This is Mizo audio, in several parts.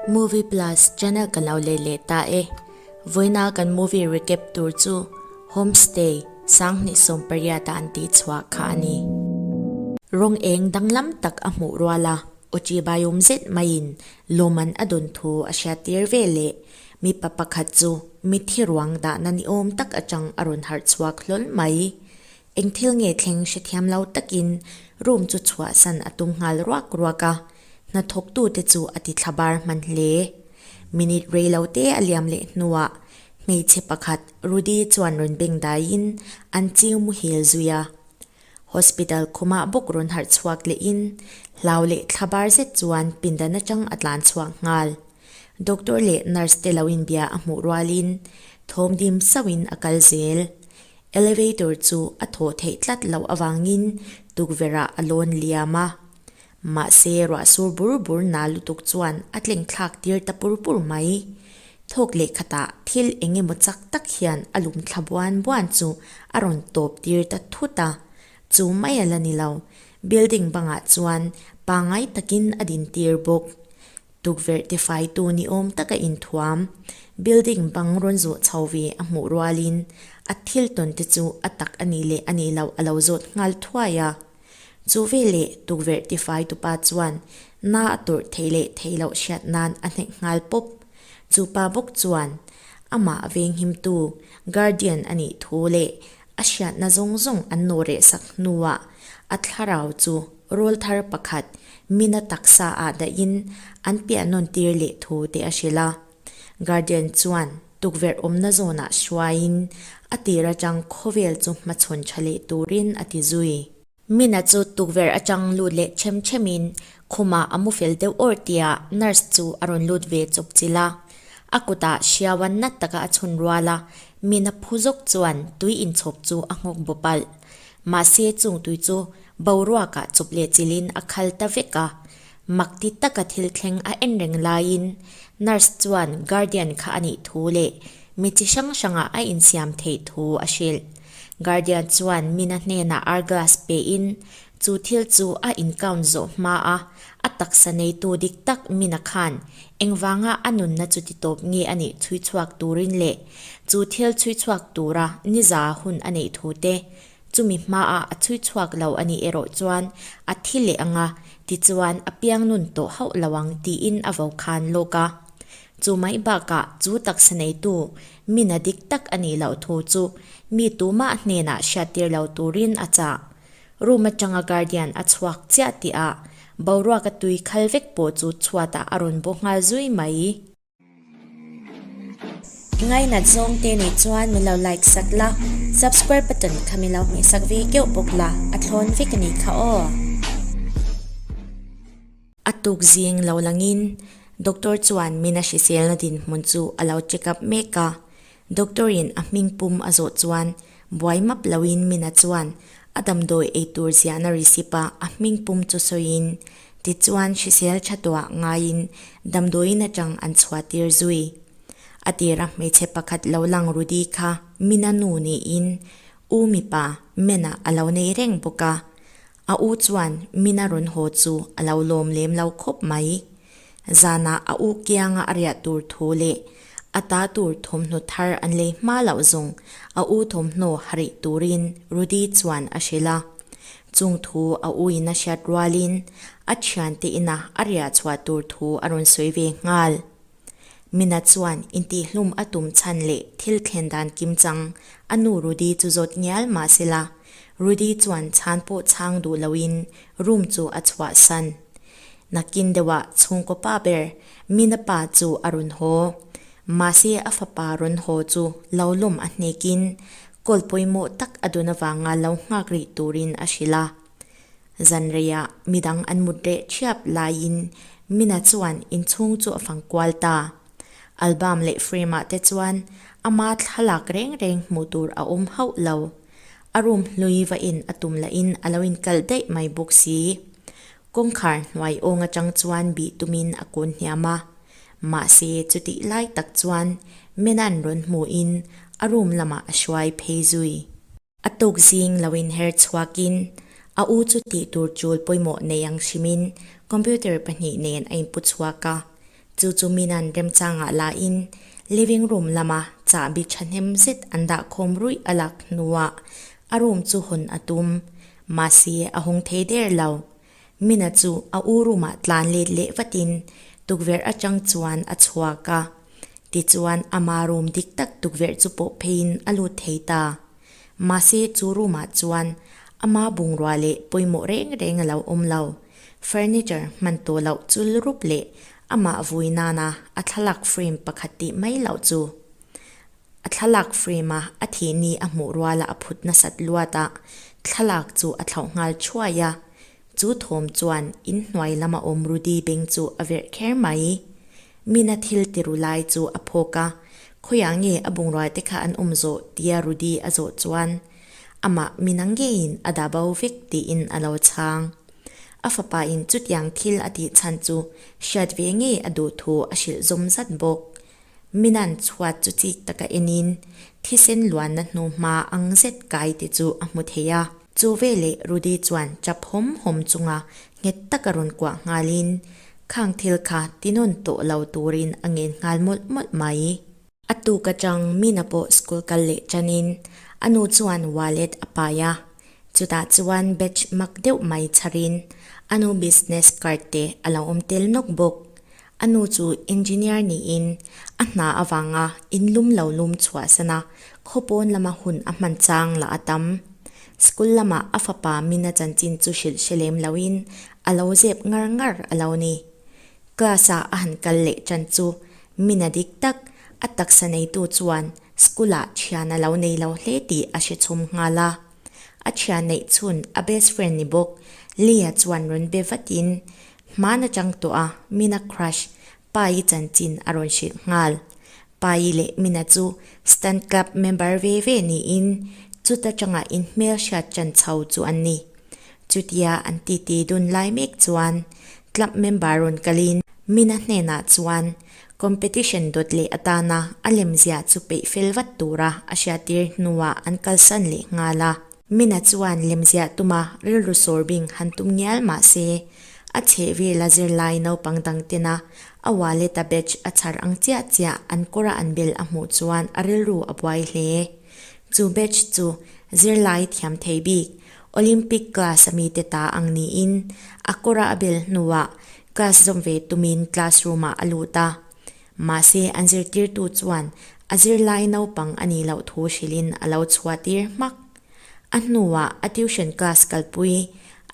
Movie Plus channel kan lo leh leh ta e. Vawiina kan movie recap tur chu Home Stay, Sanghnih sawm pariat a an tih chhuah kha a ni. Rawng eng danglam tak a hmuh rual a, Ochi Baium zet maiin lawmman a dun thu a hriattir ve leh mipa pakhat chu mithi ruang dahna ni awm tak atang a rawn harh chhuak hlawl mai. Eng thil nge thleng hrethiam lo takin room chu chhuah san a tum nghal ruak ruak a, hnathawktu te chu a ti thlabar hman hle. Minute rei lo te a liam leh hnuah hmeichhe pakhat Rudy chuan rawn beng daiin an chiu mu hel zui a. Hospital khumah bawk rawn harh chhuak lehin hlau leh thlabar zet chuan pindan atang a tlan chhuak nghal. Doctor leh nurse te lo inbia a hmuh rualin thawm dim sauhin a kal zel. Elevator chu a thaw theih tlat loh avangin tukverhah a lawn liam a. Mahse ruah sur bur bur na lutuk chuan a tlengthlak tir ta pur pur mai. Thawk leh khatah thil eng emaw chak tak hian a lum thla buan buan chu a rawn tawp tir ta thut a. Chu mai a la ni lo, building bangah chuan pangngai takin a din tir bawk. Tukverh tifaitu ni awm taka inthuam, building bang rawn zawh chho ve a hmuh rualin a thiltawn te chu a tak a nih leh a nih loh a lo zawt nghal thuai a. Chu veleh tukverh tifaitu pa chuan na a turh theih leh theih loh hriat nan a hnek nghal pawp. Chu pa bawk chuan amah venghimtu, guardian, a nih thu leh a hriatna zawng zawng an nawh reh sak hnuah a thlarau chu Rawl thar pakhat mina taksa ah dahin an piah nawn tir leh thu te a hrilh a, Guardian chuan tukverh awmna zawn ah hruai in a tir atang khawvel chu hmachhawn tha leh tur in a ti zui. Mina chu tukverh atang lut leh chhem chhem in khum ah a mu fel deuh awrh tiah nurse chu a rawn lut ve chawp chilh a, a kut ah hriaua nat taka a chhun rual a, mina phu zawk chuan tui in chhawp chu a nghawk bawp alh. Mahse chungtui chu boruakah chup leh chilhin a khal ta vek a, mak ti taka thil thleng a en reng laiin nurse chuan guardian kha a nih thu leh mi chi hrang hrangah a insiam theih thu a hrilh. Guardian chuan mina hnenah arglass pehin chu thil chu a in count zawh hma a, A taksa neitu dik tak mina khan engvanga a nunna chu ti tawp nge a nih chhui chhuak turin leh chu thil chhui chhuak tura niza hun a neih thu te chumi hmaa a chhui chhuak lo a nih erawh chuan a thi leh ang a, tichuan a piang nun tawh hauh lo ang tiin a vo khan lawk a. Chu mai bakah chu taksa neitu mina dik tak a nih loh thu chu mi tumah hnenah hriattir lo turin a chah. Room atanga guardian a chhuak chiah tih a, boruaka tui khal vek pawh chu chhuatah a rawn bu nghal zui mai. I ngainat zawng te nih chuan min lo like sat la, subscribe button kha min lo hmeh sak ve keuh bawk la, a thlawn vek a ni kha aw. A tuk zing lo langin doctor chuan min a hrisel na dinhmun chu a lo check up mek a, Doctor in a hming pum a zawh chuan buai map loin Mina chuan a damdawi eitur ziahna receipt a a hming pum chu sawiin tichuan hrisel tha tuah ngaiin damdawiin atang an chhuahtir zui a tir a hmeichhe pakhat lo lang Rudy kha Mina nu niin u mipa Mena a lo nei reng bawk a, A u chuan min a rawn haw chu a lo lawm lem lo khawp mai. Zanah a u kianga a riah tur thu leh a ta tur thawmhnaw thar an lei hma loh zawng a u thawmhnaw ha rih turin Rudy chuan a hrilh a. Chung thu a u in a hriat rualin a thiante inah a riah chhuah tur thu a rawn sawi ve nghal. Mina chuan intihhlum a tum chhan leh thil thlen dan kim chang. A nu Rudy chu zawt ngial mah se la, Rudy chuan chhan pawh chhang duh loin room chu a chhuah san. Nakin deuhah chhungkaw pa ber Mina pa chu a rawn haw. Mahse a fapa rawn haw chu lo lawm a hnekin, Kawlpawimawh tak a dun avanga lo nghak rih turin a hrilh a. Zanreiah midang an mut reh thiap laiin Mina chuan inchhung chu a fang kual ta. Album leh frame-ah te chuan ama thlalak reng reng hmuh tur a awm hauh lo. A room hlui vahin a tum lahin a lo inkal daih mai bawk si. Kawngkhar hnuai awng atang chuan bih tumin a kun hniam a. Mahse chutih lai tak chuan Mina'n rawn hmuhin a room lamah a hruai phei zui. A tuk zing lo in her chhuak in, a u chu tih tur chul pawimawh nei ang hrim in computer pahnih nen a in pu chhuak a. Chu chu Mina'n remchang ah la in living room lam ah chahbi thahnem zet an dah khawm ruih a lak hnu ah a room chu hawn a tum. Mahse a hung thei der lo. Mina chu a u roomah tlan let leh vatin tukverh atang chuan a chhuak a, tichuan ama room dik tak tukverh chu pawh pheiin a lut thei ta. Mahse chu roomah chuan ama bungrua leh pawimawh reng reng a lo awm lo, furniture hman tawh loh chul rup leh amah vui nana a thlalak frame pakhat tih mai loh chu A thlalak frame a a thihni a hmuh ruala a phut nasat luat a, thlalak chu a thlauh nghal thuai a. Chu thawm chuan in hnuai lam a awm Rudy beng chu a verh kher mai i, Min-a thil ti ru lai chu a phawk a, khawiah nge a bungrua te kha an awm zawh tia Rudy a zawh chuan amah Min-a ngeiin a dah bo vek tiin a lo chhang. A fapa in chutiang thil a tih chhan chu hriat ve ngei a duh thu a hrilh zawm zat bawk. Minan chhuat chu chik taka enin thisen luanna hnu hma ang zet kai te chu a hmu thei a. Chu veleh Rudy chuan chap hawm hawm chunga nghet taka rawn kuah nghalin khang thil kha tinawn tawh lo turin a ngen nghal mawlh mawlh mai. A tuk atang Mina pawh school kal leh tanin a nu chuan wallet a pai a, chutah chuan batch mak deuh mai chharin a nu business card te a lo awm tel nawk bawk. A nu chu engineer niin a hna avanga in lum lo lum chhuah san a, khaw pawn lama hun a hman chang la a tam. School lama a fapa min a chanchin chu hrilh hre lem loin a lo zep ngar ngar a lo ni. Class a a han kal leh tan chu min a dik tak, a taksa neitu chuan school a thian a lo nei lo hle tih a hre chhum nghal a. A chhia neih chhun a best friend ni bawk. Lee-a chuan rawn be vatin hmaan a chang tawh a, Min-a crush Pai-i chanchin a rawn hrilh nghal. Pai-i leh Min-a chu Stunt Club member ve ve niin chuta tangah in hmel hriat chan chho chu an ni. Chutia an titi dun lai mek chuan Club member rawn kalin Min-a hnenah chuan Competition dawt leh atana a lemziah chu peih fel vat tura a hriattir hnuah an kalsan leh nghal a. Mina chuan lemziah tuma rilru sawrbing han tum ngial mahse, a chhehvela zirlai naupang dang tena a wallet a badge a chhar ang chiah chiah an kawra an bel a hmuh chuan a rilru a buai hle. Chu badge chu zirlai thiam thei bik, Olympic class a mi te ta ang niin a kawra a bel hnuah class zawm ve tumin classroom ah a lut a. Mahse an zirtirtu chuan a zirlai naupang a nih loh thu hrilhin a lo chhuahtir hmak. A hnuah a tuition class kalpui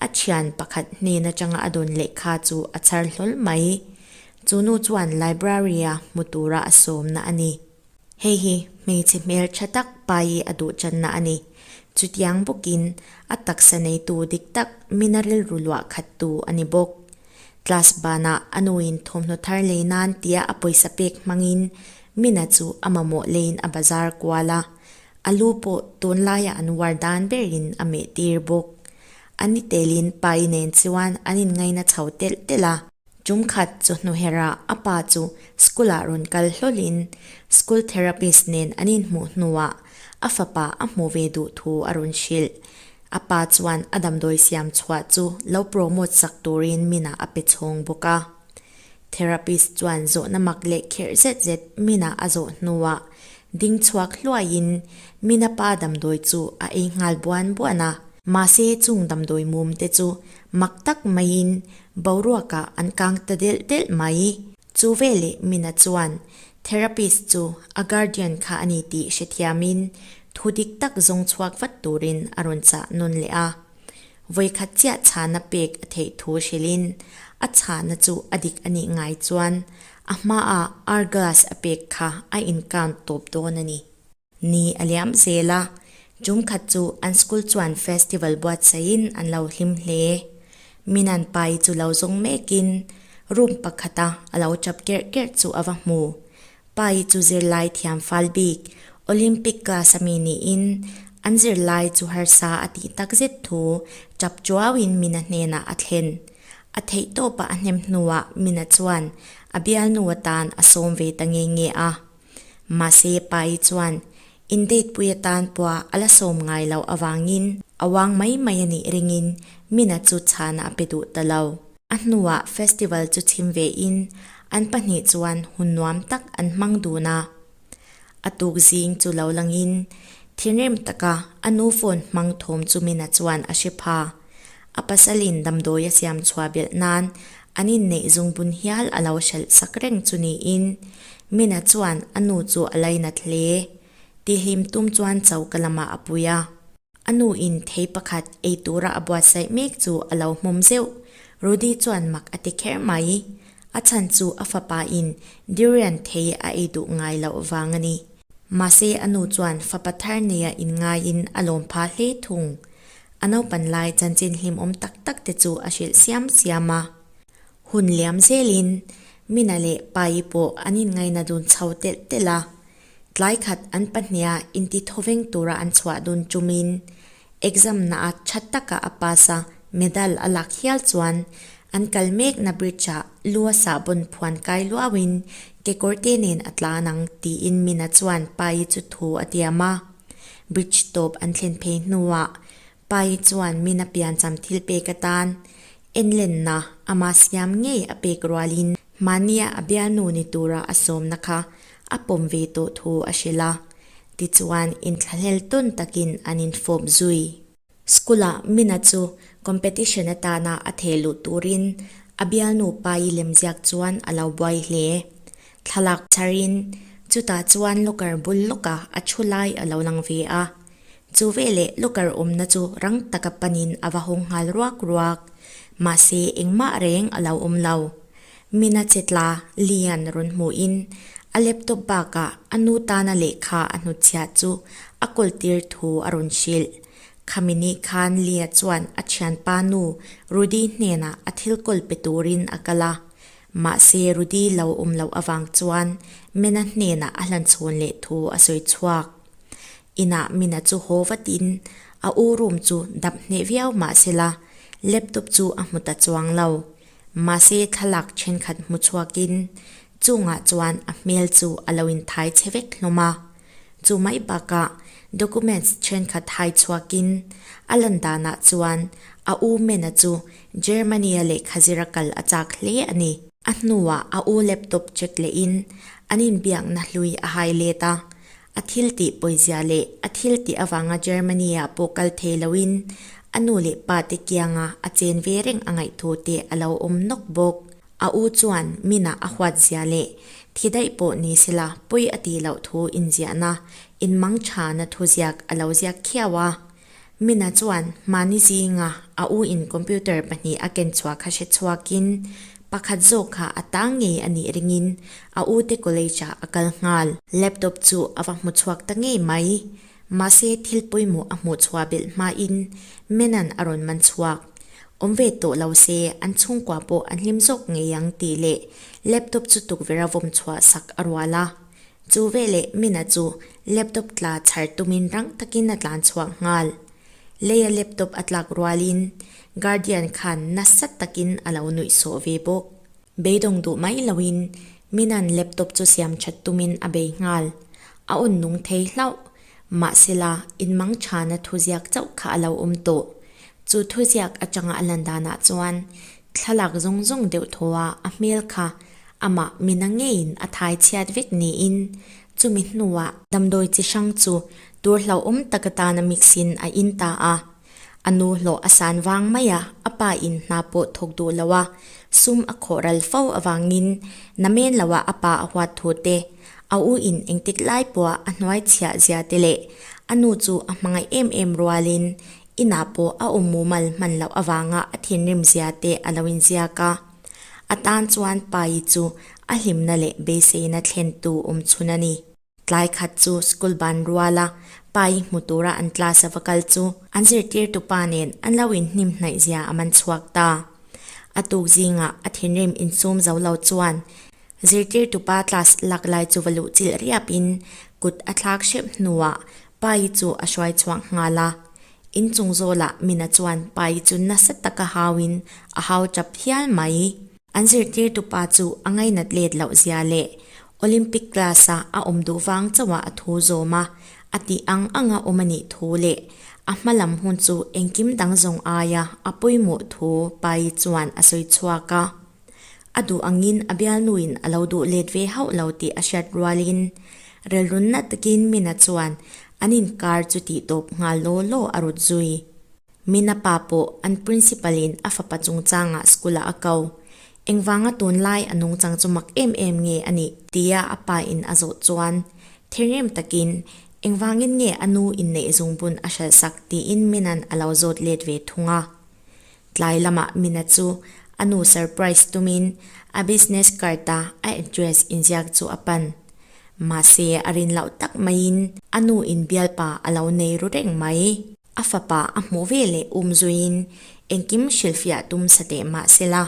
a thian pakhat hnen atanga a dawn lehkha chu a chhar hlawl mai. Chu nu chuan library-a hmu tura a sawmna a ni. Hei hi hmeichhe hmeltha tak paii a duhchanna a ni. Chutiang bawkin a taksa neitu dik tak min a rilru luah khat tu a ni bawk. Class banah a nuin thawmhnaw thar lei nan tia a pawisa pek hmangin mina chu a mamawh leiin a bazar kual a. A lu pawh tunlaia an uar dan berin a meh tir bawk. A ni telin paii nen chuan an inngaina chho telh telh a. Tum khat chawhnuhera a pa chu school-ah rawn kal hlawlhin school therapist nen an inhmuh hnuah a fapa a hmu ve duh thu a rawn hrilh. A pa chuan a damdawi siam chhuah chu lo promote sak turin Mina a pe chhawng bawk a. Therapist chuan zawhna mak leh kher zet zet Mina a zawh hnuah ding chhuak hluaiin Mina pa damdawi chu a ei nghal buan buan a. Mahse chung damdawi mum te chu mak tak maiin boruakah an kang ta delh delh mai. Chu ve leh mina chuan therapist chu a guardian kha a ni tih hrethiamin thu dik tak zawng chhuak vat turin a rawn chah nawn leh a. Vawikhat chiah chhana pek a theih thu hrilhin a chhana chu a dik a nih ngai chuan a hmaah hour glass a pek kha a in count tawp dawn a ni. Ni a liam zel a, tum khat chu an school chuan festival buatsahin an lo hlim hle. Minan pai chu lo zawng mekin room pakhata a lo chap kerh kerh chu a va hmu. Pai chu zirlai thiamfal bik, Olympic class a mi niin an zirlai chu harsa a tih tak zet thu chap chuauin Mina hnenah a thlen. A theihtawpa a hnem hnuah Mina chuan a bialnu atan a sawm ve ta nge nge a. Mahse, Paii chuan Indeitpui atan pawha a la sawm ngai loh avangin a vang mai mai a nih ringin mina chu chhana a pe duh ta lo. A hnuah festival chu chhim vein an pahnih chuan hun nuam tak an hmang dun a. A tuk zing chu lo langin thinrim taka a nu phone hmang thawm chu mina chuan a hre pha. A pasalin damdawi a siam chhuah belh nan an inneih zung bun hial a lo hralh sak reng chu niin, Mina chuan a nu chu a lei nat hle. Ti hlim tum chuan chau ka lamah a pui a. A nu in thei pakhat eitura a buatsaih mek chu a lo hmawm zeuh. Rudy chuan mak a ti kher mai. A chhan chu a fapa in Durian thei a ei duh ngai loh avang a ni. Mahse a nu chuan fapa thar neia in ngaiin a lawmpha hle thung. A naupan lai chanchin hlimawm tak tak te chu a hrilh siam siam a. Hun liam zelin Mina leh Paii pawh an inngaina dun chho telh telh a. Tlai khat an pahnia inti thaw veng tura an chhuah dun tumin exam naah tha taka a pass a, medal a lak hial chuan an kal mekna bridge ah luasa bawn phuan kai luauin kekawrte nen a tlan ang tiin Mina chuan Paii chu thu a tiam a. Bridge tawp an thlen phei hnuah Pai chuan min a piancham thil pek atan en lenna amah siam ngei a pek rualin hmahnia a bialnu ni tura a sawmna kha a pawm ve tawh thu a hrilh a. Tichuan inthlahlel tawn takin an infawp zui. School-a Mina chu competition atana a thei luh turin a bialnu pai lem ziak chuan a lo buai hle. Thlalak chharin chutah chuan locker bul lawka a thu lai a lo lang ve a. Chu veleh locker awmna chu rang taka panin a va hawng nghal ruak ruak. Mahse engmah reng a lo awm lo. Mina che tla lian rawn hmuhin a laptop bakah a nu tana lehkha a hnuchhiah chu a kawltir thu a rawn hrilh. Khami nih khan Lia chuan a thianpa nu Rudy hnenah a thil kawl pe turin a kal a. Mahse Rudy lo awm loh avang chuan Mina hnenah a hlan chhawn leh thu a sawi chhuak. Inah Mina chu haw vatin a u room chu dap hneh viau mahsela, laptop chu a hmu ta chuang lo. Mahse thlalak thenkhat hmu chhuakin chungah chuan a hmel chu a lo inthai che vek hlawm a. Chu mai bakah documents thenkhat hai chhuakin a lan danah chuan a u Mena chu Germany-a lehkha zir a kal a chak hle a ni. A hnuah a u laptop check lehin an inbiakna hlui a hai let a, A thil tih pawizia leh a thil tih avanga Germany-ah pawh kal thei loin a nu leh pa te kianga a chen ve reng a ngaihthu te a lo awm nawk bawk. A u chuan minah a huatzia leh thi daih pawh ni sela pawi a ti loh thu inziahna, inmangṭhana thuziak a lo ziak khiau a. Mina chuan mahni zinga a u in computer pahnih a ken chhuah kha hre chhuak in pakhat zawk kha a tang ngei a nih ring in a u te college ah a kal nghal. Laptop chu a va hmu chhuak ta ngei mai. Mahse thil pawimawh a hmuh chhuah belh hma in Mena'n a rawn man chhuak. Awm ve tawh lo se an chhungkua pawh a hlim zawk ngei ang tih leh laptop chu tukverh a vawm chhuah sak a rual a. Chu ve leh Mina chu laptop tla chhar tumin rang takin a tlan chhuak nghal. Leia laptop a tlak rualin Guardian khan nasa takin a lo nuih sawh ve bawk. Beidawng duh mai loin Mina'n laptop chu siam that tumin a bei nghal. A un nung thei hlauh. Mahsela, in mang thana thuziak chauh kha a lo awm tawh. Chu thuziak atanga a lan danah chuan Thlalak zawng zawng deuh thaw a a hmel kha amah mina ngeiin a thai chhiat vek niin chumi hnuah, damdawi chi hrang chu tur hlauhawm taka tana mix in a in ta a, a nu hlawh a san vang mai a, a pa in hna pawh thawk duh loh a sum a khawh ral fo avangin na men lohah a pa a huat thu te, a u in engtik lai pawha a hnuai chhiah zia te leh a nu chu a hmangaih em em rualin Inah pawh a awm mumal hman loh avanga a thinrim zia te a lo inziak a. A tan chuan Pai chu a hlimna leh beiseina thlen tu awm chhun a ni. Tlai khat chu school ban ruala Pai hmu tura an class a va kal chu an zirtirtu pa nen an lo inhnim hnaih zia a man chhuak ta. A tuk zingah a thinrim insum zo lo chuan zirtirtu pa class lak lai chu va luh chilh riapin kut a thlak hrep hnuah Paii chu a hruai chhuak nghal a, in chung zawlah mina chuan Paii chu nasa taka hauin a hau tap hial mai. An zirtirtu pa chu a ngainat let loh zia leh Olympic class-a a awm duh vang chauhah a thu zawm a, a tih ang anga awm a nih thu leh a hma lam hun chu engkim dang zawng aia a puimuh thu Paii chuan a sawi chhuak a. a duh angin a bialnuin a lo duh let ve hauh lo tih a hriat rualin relrunna takin Mina chuan an inkar chu tih tawp nghal law law a rut zui. Mina pa pawh an Principal-in a fapa chungchangah school-ah a kau. Engvanga tunlai a nung chang chu mak em em nge a nih? Tia a pain a zawh chuan thengrem takin, Engvangin nge a nu inneih zungbun a hralhsak? tiin Mina'n a lo zawt let ve thung a. Tlai lama Mina chu a nu surprise tumin a business card a a address inziak chu a pan. Mahse a rin loh tak maiin a nu in bialpa a lo nei ru reng mai. A fapa a hmuh ve leh um zuiin engkim hrilhfiah tum sateh mahsela,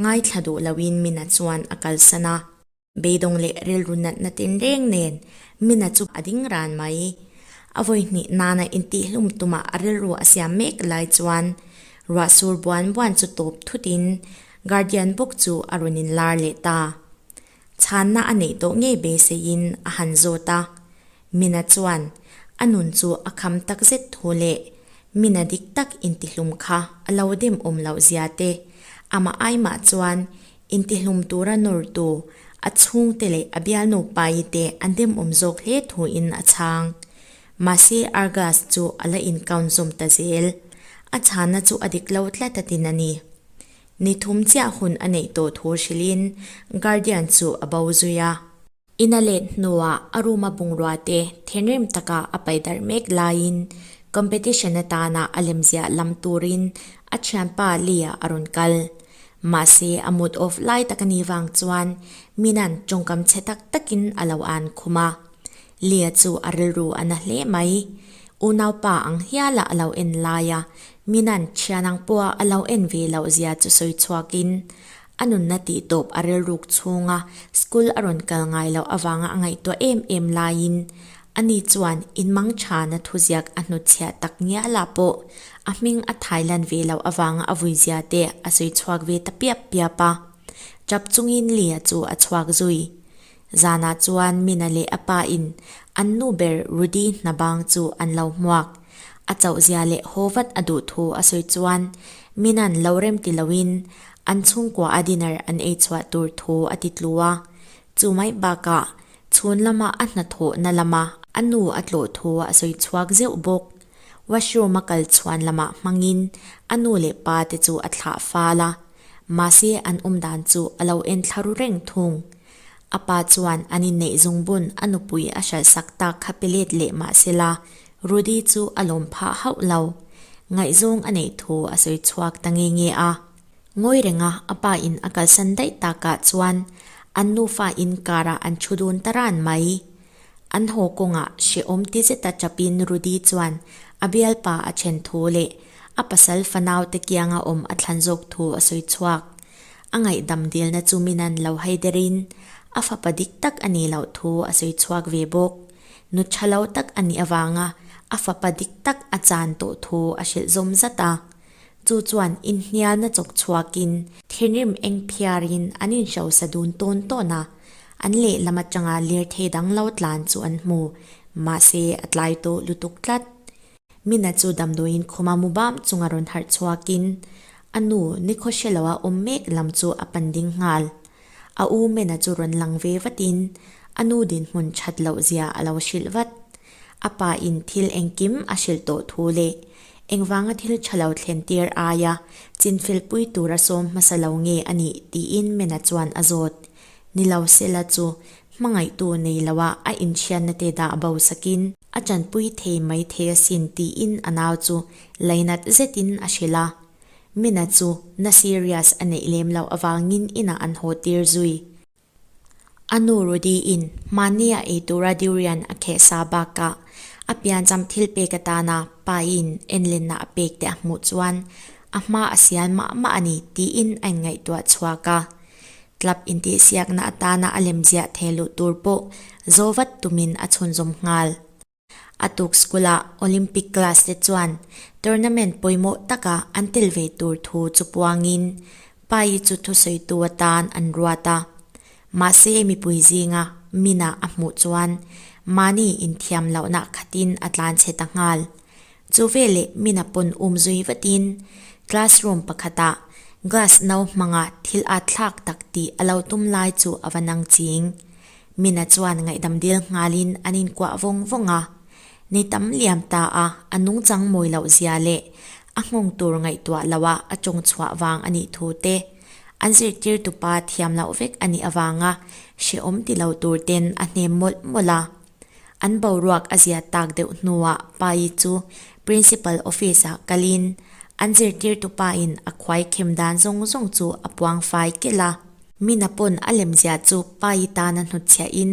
ngaithla duh loin Mina chuan a kalsan a. Beidawng leh rilru natna ten reng nen Mina chu a ding ran mai i, a vawi hnih nana intihlum tuma rilru a siam mek lai chuan ruahsur buan buan chu tawp thutin Guardian bawk chu a rawn inlar leh ta. Chhanna a neih tawh ngei beiseiin a han zawt a, Mina chuan a nun chu a kham tak zet thu leh Mina dik tak intihlum kha a lo dem awm loh zia te, amah ai mah chuan intihlum tura nawrtu a chhungte leh a bial nupai te an dem awm zawk hle thuin a chhang. Mahse Argus chu a la inkawn zawm ta zel, a chhana chu a dik lo tla tatin a ni. Ni thum chiah hun a neih tawh thu hrilhin Guardian chu a bo zui a. Ina let hnuah a room-a bungrua-te thinrim taka a pai darh mek laiin competition atana a lemziah lam turin a thianpa Lee-a a rawn kal. Mahse, a mood off lai tak a nih vang chuan Mina-n tawngkam chhe tak takin a lo an khum a. Lee-a chu a rilru a na hle mai. Unaupa ang hiala a lo en laia Mina-n thian ang pawha a lo en ve loh zia chu sawi chhuakin A nunna tih tawp a rilruk chhunga school a rawn kal ngai loh avanga a ngaihtuah em em laiin a ni chuan in Mangthana thuziak a hnutchhiah tak ngiah lah pawh a hming a thailan ve loh avanga a vuizia te a sawi chhuak ve ta piap piap a. Chap chungin Lia chu a chhuak zui. Zanah chuan Mina leh a pa in an nu ber Rudy hna bang chu an lo hmuak. A chauhzia leh haw vat a duh thu a sawi chuan Mina'n lo rem ti lo in an chhungkuaha dinner an ei chhuah tur thu a ti tlu a. Chu mai bakah chhun lama a hnathawhna lama a nu a tlawh thu a sawi chhuak zeuh bawk. Washroom a kal chhuan lamah hmangin a nu leh pa te chu a thlah fal a, mahse an awm dan chu a lo en thlaru reng thung. A pa chuan an inneih zung bun a nupui a hralhsak tak kha pe let leh mah se la, Rudy chu a lawm phah hauh lo. Ngaihzawng a neih thu a sawi chhuak ta nge nge a. Ngawi renga a pa in a kalsan daih takah chuan an nufa in karah an thu dun ta ran mai. An haw kawngah hrehawm ti zeta chapin Rudy chuan a bialpa a then thu leh a pasal fanaute kianga awm a thlan zawk thu a sawi chhuak. A ngaihdam dilna chu min an lo hai der in, a fapa dik tak a nih loh thu a sawi chhuak ve bawk. Nu tha lo tak a nih avanga a fapa dik tak a chan tawh thu a hrilh zawm zat a. Chu chuan inhnialna chawk chhuakin, thinrim engphiar in an inhrosa dun tawn tawn a, An lehlam atanga lirthei danglo tlan chu an hmu, mahse a tlai tawh lutuk tlat. Mina chu damdawiin khuma mubam chunga rawn harh chhuakin a nu Nikhosheloa awm mek lam chu a pan ding nghal. A u Mena chu rawn lang ve vatin a nu dinhmun that loh zia a lo hrilh vat. A pa in thil engkim a hrilh tawh thu leh engvanga thil tha lo thlen tir aia chinfel pui tura sawm hmasa lo nge a nih tiin Mena chuan a zawt. Ni lo sela chu hmangaihtu nei loha a inthianna te dah bo sakin a chanpui thei mai thei asin tiin a nau chu lainat zetin a hrilh a. Mina chu na serious a neih lem loh avangin inah an haw tir zui. A nu Rudy-in hmahniah ei tura durian a kheh sa bakah a piancham thil pek atana pain enlenna a pek teh a hmuh chuan a hma a sial mah mah a ni tiin a inngaihtuah chhuak a. Club intihsiakna atana a lem ziah thei luh tur pawh zo vat tumin a chhunzawm nghal. A tuk School-a Olympic class te chuan Tournament pawimawh taka an tel ve tur thu chupuangin Pai-i chu thusawitu atan an ruat a. Mahse mipui zinga mina a hmuh chuan mahni inthiam lohna khatin a tlanchhe ta nghal. Chu ve leh mina pawn um zui vatin classroom pakhatah glass no hmanga thil a thlak tak tih a lo tum lai chu a va nang ching. Mina chuan ngaihdam dil nghalin an inkuah vawng vawng a. Ni tam liam ta a, a nung chang mawi loh zia leh a nghawng tur ngaihtuah loh a a tawng chhuah vang a nih thu te, an zirtirtupa thiam loh vek a nih avanga hrehawm ti lo tur ten a hnem mawlh mawlh a. An boruak a ziah tak deuh hnuah pa Yi chu Principal office ah kalin an zirtirtu pa in a khuai khem dan zawng zawng chu a puang fai kelh a. Mina pawn a lemziah chu pa Yi tan a hnutchhiah in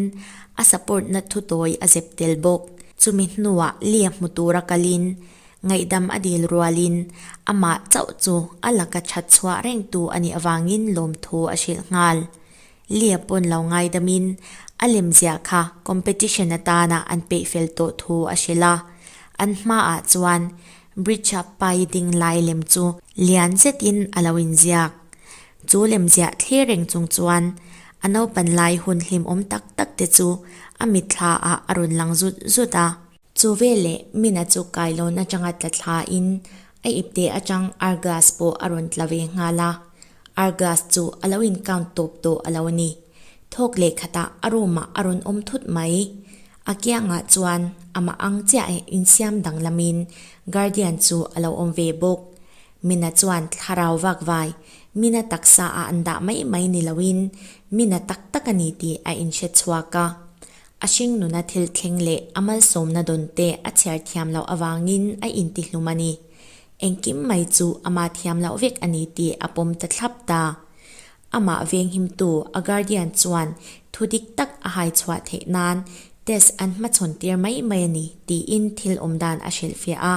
a support na thudawi a zep tel bawk. Chumi hnuah Lia hmu tur a kalin ngaihdam a dil rual in amah chauh chu a laka that chhuah rengtu a nih avangin lawmthu a hrilh nghal. Lia pawn lo ngaidamin a lemziah kha competition atana an peih fel tawh thu a hrilh a, an hmaah chuan bridge-a pai ding lai lem chu lian zetin a lo inziak. Chu lemziah thlir reng chung chuan a naupanlai hun hlimawm tak tak te chu a mitthla-ah a rawn lang zut zut a, Chu vel leh mina chu kai lawn atanga tla thla in a ip teh atang ar glass pawh a rawn tla ve nghal a, ar glass chu a lo in count tawp tawh a lo a ni. Thawk leh khatah a room ah a rawn awm thut mai. A kiang ah chuan amah ang chiah in insiam danglam in guardian chu a lo awm ve bawk. Mina chuan thlarau vak vai mina taksa ah an dah mai mai ni lo in mina tak tak a ni tih a in hre chhuak a. A hring nuna thil thleng leh a malsawmna dawn te a chhiar thiam loh avangin a inti hlum a ni. Engkim mai chu amah thiam loh vek a ni tih a pawm ta thlap ta. Amah venghimtu a guardian chuan thu dik tak a hai chhuah theih nan test an hmachhawn tir mai mai a ni tiin thil awm dan a hrilhfiah a.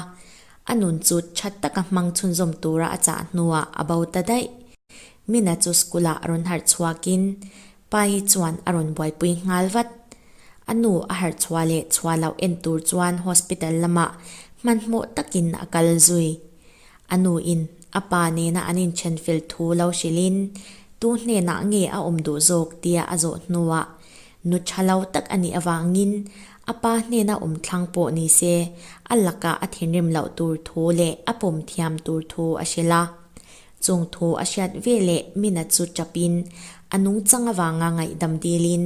A nun chu that taka hmang chhunzawm tura a chah hnuah a bo ta daih. Mina chu school ah a rawn harh chhuakin Pa hi chuan a rawn buaipui nghal vat. A nu a harh chhuah leh chhuah loh en tur chuan hospital lamah hmanhmawh takin a kal zui. A nu in a pa nena an inthen fel thu lo hrilhin, Tu hnenah nge a awm duh zawk tia a zawh hnuah, Nu tha lo tak a nih avangin a pa hnena awm thlang pawh ni se, a lakah a thinrim loh tur thu leh a pawm thiam tur thu a hrilh a. Chungthu a hriat ve leh mina chu tapin a nungchang avanga ngaihdam dilin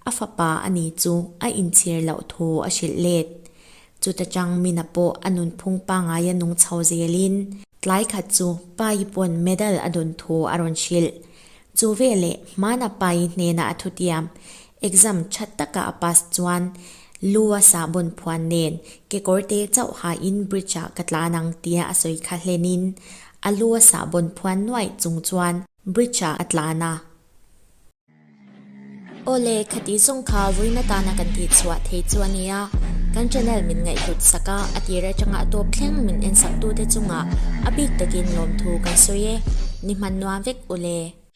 a fapa a ni chu a inchhir loh thu a hrilh let. Chuta tang mina pawh a nunphung pangai a nung chho zelin, tlai khat chu pai pawn medal a dun thu a rawn hrilh. Chu veleh hmana pai hnena a thutiam Exam tha taka a pass chuan Lu a sa bawn phuan nen kekawr te chauh ha in bridge ah ka tlan ang tia a sawi kha hlen in a lu a sa bawn phuan nuaih chung chuan bridge ah a tlan a. Awle kha tih zawng kha vawiina tana kan tih chhuah thei chu a nia, kan channel min ngaihhlut sak a, a tir atanga tawp thleng min ensaktu te chungah a bik takin lawmthu kan sawi e, ni hman nuam vek ule.